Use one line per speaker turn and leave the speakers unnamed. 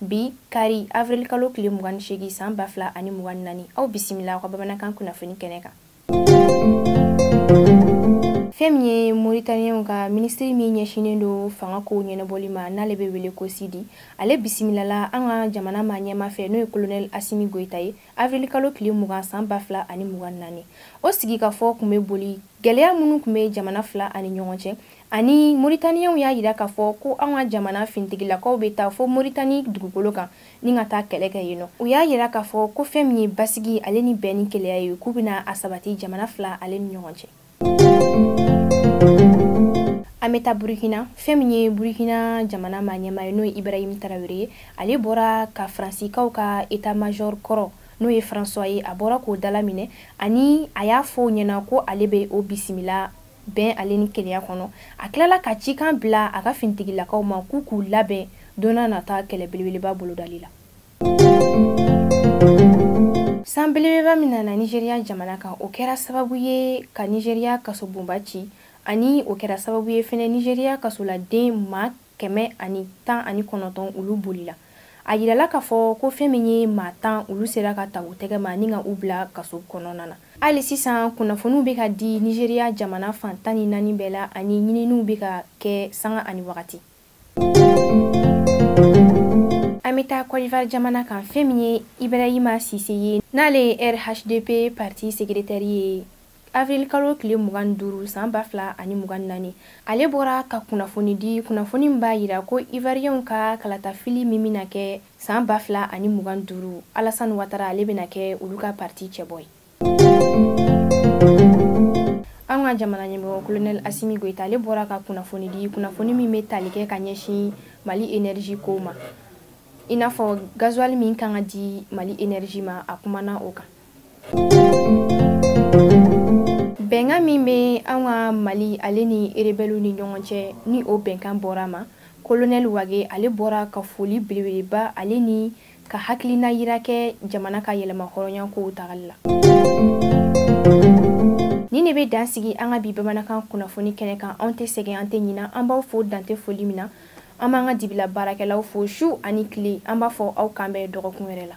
bi kari avril kalo tile mugan ni seegin san ba fila ani mugan ni naani aw bisimila aw ka bamanankan kunnafoni kɛnɛ kan fɛn min ye moritaniyɛnw ka minisiri min ɲɛsinnen don fanga kow ɲɛnabɔli ma n'ale bɛ wele ko sidi ale bisimilala an ka jamana maa ɲɛmaa fɛ n'o ye kolonɛli asimi goyita ye avril kalo tile mugan san ba fila ani mugan ni naani o sigikafɔ tun bɛ boli gɛlɛya minnu tun bɛ jamana fila ani ɲɔgɔn cɛ ani moritaniyanw y'a yira k'a fɔ ko anw ka jamana finitigilakaw bɛ taa fo moritani dugukolo kan ni ka taa kɛlɛ kɛ yen nɔ u y'a yira k'a fɔ ko fɛn min ye basigi ale ni bɛn ni kelenya ye k'u bɛna a sabati jamana fila ale ni ɲɔgɔn cɛ an bɛ taa burukina fɛn min ye burukina jamana maa ɲɛmaa ye n'o ye ibrahim tarawele ye ale bɔra ka faransikaw ka etat major kɔrɔ n'o ye françois ye a bɔra k'o dalaminɛ ani a y'a fɔ o ɲɛ na ko ale bɛ o bisimila bɛn ale ni kelenya kɔnɔ a tilala ka cikan bila a ka finitigilakaw ma k'u k'u labɛn don nata kɛlɛ belebeleba bolodali la san belebeleba min nana nizeriya jamana kan o kɛra sababu ye ka nizeriya kasobonba ci ani o kɛra sababu ye fɛnɛ nizeriya kasoladen maa kɛmɛ ani tan ani kɔnɔntɔn olu bolila a yirala k'a fɔ ko fɛn min ye maa tan olu sera ka ta u tɛgɛ ma ni ka u bila kaso kɔnɔna na hali sisan kunnafoniw bɛ ka di nizeriya jamana fan tan ni naani bɛɛ la ani ɲininiw bɛ ka kɛ sanga ani wagati an bɛ taa kɔdivar jamana kan fɛn min ye ibrahima sise ye n'ale ye rhdp parti sekretɛri ye avril kalo tile mugan duuru san ba fila ani mugan naani ale bɔra ka kunnafoni di kunnafoni in b'a yira ko ivariyɛnw ka kalatafili min bɛna kɛ san ba fila ani mugan duuru alasani watara ale bɛna kɛ olu ka parti cɛbɔ ye an ka jamana ɲɛmɔgɔ kolonɛli asimi goyita ale bɔra ka kunnafoni di kunnafoni min bɛ tali kɛ ka ɲɛsin mali enerji kow ma i n'a fɔ gazuwali min ka kan ka di mali enerji ma a kumana o kan bɛnkan min bɛ an ka mali ale ni erebɛliw ni ɲɔgɔn cɛ ni o bɛnkan bɔra a ma kolonɛli wage ale bɔra ka foli belebeleba ale ni ka hakilina yira kɛ jamana ka yɛlɛma hɔrɔnya kow tagali la ni ne bɛ dan sigi an ka bi bamanankan kunnafoni kɛnɛ kan anw tɛ sɛgɛn an tɛ ɲina an b'aw fo dan tɛ foli min na an b'an ka dibila baarakɛlaw fo su ani tile an b'a fɔ aw k'an bɛn dɔgɔkun wɛrɛ la